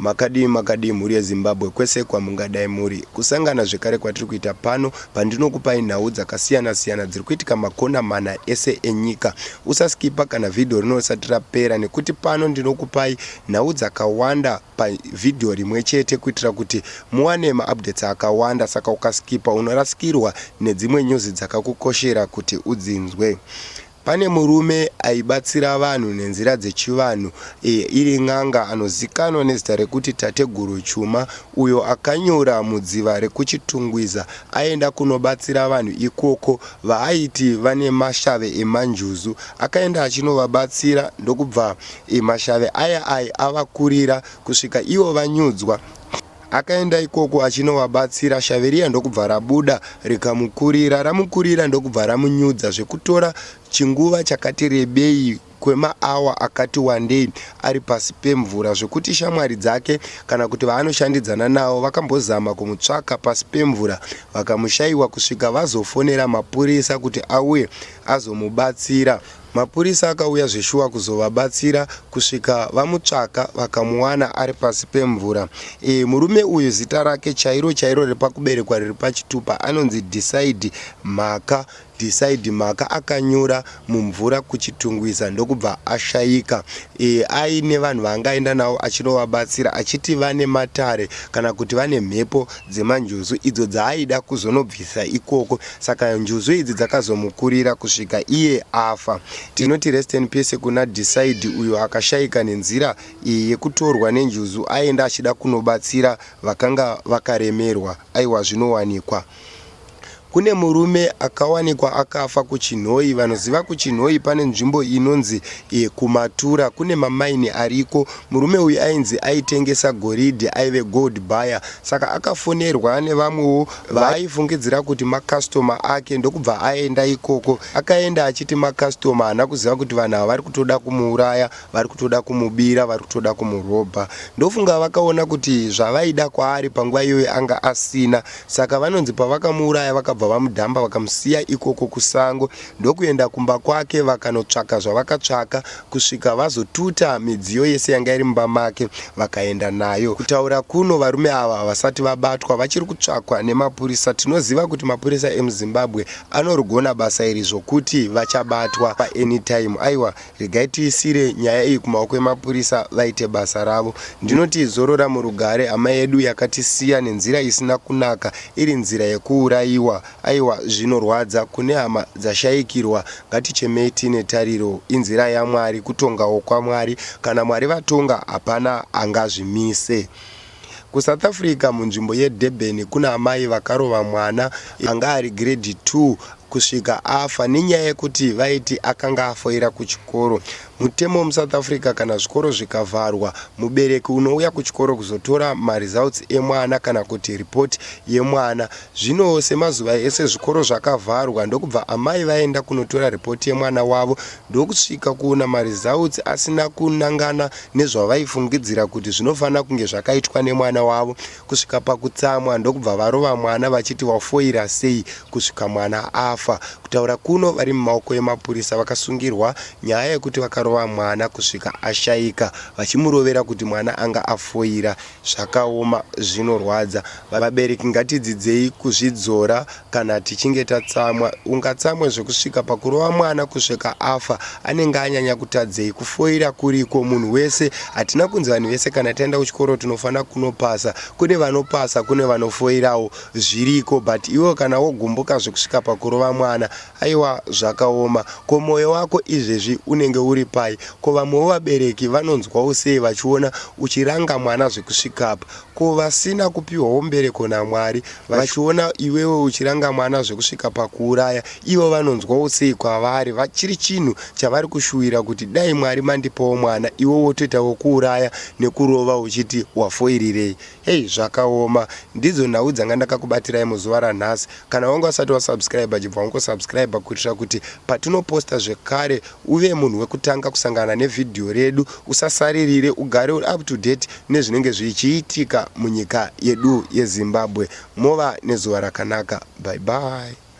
makadii makadii mhuri yezimbabwe kwese kwamungadai muri kusangana zvekare kwatiri kuita pano pandinokupai nhau dzakasiyana siyana dziri kuitika makona mana ese enyika usaskipa kana vhidhiyo rino risati rapera nekuti pano ndinokupai nhau dzakawanda pa video rimwe chete kuitira kuti muwane ma updates akawanda saka ukaskipa unorasikirwa nedzimwe news dzakakukoshera kuti udzinzwe. Pane murume aibatsira vanhu nenzira dzechivanhu e, iri n'anga anozikanwa nezita rekuti Tateguru Chuma uyo akanyura mudziva rekuChitungwiza aenda kunobatsira vanhu ikoko vaaiti vane mashave emanjuzu. Akaenda achinovabatsira ndokubva I mashave aya ayi avakurira kusvika ivo vanyudzwa. Akaenda ikoko achinovabatsira shave riya ndokubva rabuda rikamukurira. Ramukurira ndokubva ramunyudza zvekutora chinguva chakati rebei kwemaawa akati wandei ari pasi pemvura zvekuti shamwari dzake kana kuti vaanoshandidzana navo vakambozama kumutsvaka pasi pemvura vakamushaiwa kusvika vazofonera mapurisa kuti auye azomubatsira. Mapurisa akauya zveshuwa kuzovabatsira kusvika vamutsvaka vakamuwana ari pasi pemvura. E, murume uyu zita rake chairo chairo repakuberekwa riri pachitupa anonzi Decide Mhaka. Decide Mhaka akanyura mumvura kuChitungwiza ndokubva ashaika. e, aine vanhu vaangaenda navo achinovabatsira achiti vane matare kana kuti vane mhepo dzemanjuzu idzo dzaaida kuzonobvisa ikoko saka njuzu idzi dzakazomukurira kusvika iye afa tinoti rest in peace kuna decide uyo akashaika nenzira iyi yekutorwa nenjuzu aenda achida kunobatsira vakanga vakaremerwa aiwa zvinowanikwa Kune murume akawanikwa akafa kuChinhoyi. Vanoziva kuChinhoyi pane nzvimbo inonzi yekuMatura kune mamaini ariko. Murume uyu ainzi aitengesa goridhe, aive gold buyer saka akafonerwa nevamwewo vaaifungidzira kuti makasitoma ake ndokubva aenda ikoko. Akaenda achiti makasitoma haana kuziva kuti vanhu ava vari kutoda kumuuraya. vari kutoda kumubira vari kutoda kumurobha ndofunga vakaona kuti zvavaida kwaari panguva iyoyo anga asina saka vanonzi pavakamuuraya vakabva vamudhamba vakamusiya ikoko kusango ndokuenda kumba kwake vakanotsvaka zvavakatsvaka kusvika vazotuta midziyo yese yanga iri mumba make vakaenda nayo kutaura kuno varume ava havasati vabatwa vachiri kutsvakwa nemapurisa tinoziva kuti mapurisa emuzimbabwe anorigona basa iri zvokuti vachabatwa paanytime aiwa Regai tiisire nyaya iyi kumaoko emapurisa vaite basa ravo. Ndinoti zorora murugare hama yedu yakatisiya nenzira isina kunaka iri nzira yekuurayiwa aiwa zvinorwadza kune hama dzashaikirwa ngatichemei tiine tariro inzira yaMwari kutongawo kwaMwari kana Mwari vatonga hapana angazvimise. KuSouth Africa, munzvimbo yeDurban, kune amai vakarova mwana anga ari grade 2 kusvika afa nenyaya yekuti vaiti akanga afoira kuchikoro. Mutemo muSouth Africa kana zvikoro zvikavharwa, mubereki unouya kuchikoro kuzotora maresults emwana kana kuti report yemwana. Zvino semazuva ese zvikoro zvakavharwa ndokubva amai vaenda kunotora report yemwana wavo ndokusvika kuona maresults asina kunangana nezvavaifungidzira kuti zvinofanira kunge zvakaitwa nemwana wavo kusvika pakutsamwa ndokubva varova mwana vachiti wafoira sei kusvika mwana afa. Kutaura kuno vari mumaoko emapurisa vakasungirwa nyaya yekuti vakarova mwana kusvika ashaika vachimurovera kuti mwana anga afoira. Zvakaoma zvinorwadza. Vabereki ngatidzidzei kuzvidzora kana tichinge tatsamwa. Ungatsamwe zvekusvika pakurova mwana kusvika afa. Anenge anyanya kutadzei? Kufoira kuriko munhu wese. Hatina kunzi vanhu vese kana taenda kuchikoro tinofanira kunopasa. Kune vanopasa kune vanofoirawo. Zviriko but iwewe kana wogumbuka zvekusvika pakurova mwana Aiwa zvakaoma. Ko moyo wako izvezvi unenge uri pai? Ko vamwewo vabereki vanonzwawo sei vachiona uchiranga mwana zvekusvika apa? Ko vasina kupiwawo mbereko naMwari vachiona iwewe uchiranga mwana zvekusvika pakuuraya ivo vanonzwawo sei? Kwavari chiri chinhu chavari kushuwira kuti dai Mwari mandipawo mwana iwe wotoita wekuuraya nekurova uchiti wafoirirei? Hey zvakaoma ndidzo nhau dzanga ndakakubatirai muzuva ranhasi kana wanga usati wasubscribe chibva wangosubscribe kuitira kuti patinoposta zvekare uve munhu wekutanga kusangana nevhidhiyo redu usasaririre ugare uri up to date nezvinenge zvichiitika munyika yedu yezimbabwe mova nezuva rakanaka bye bye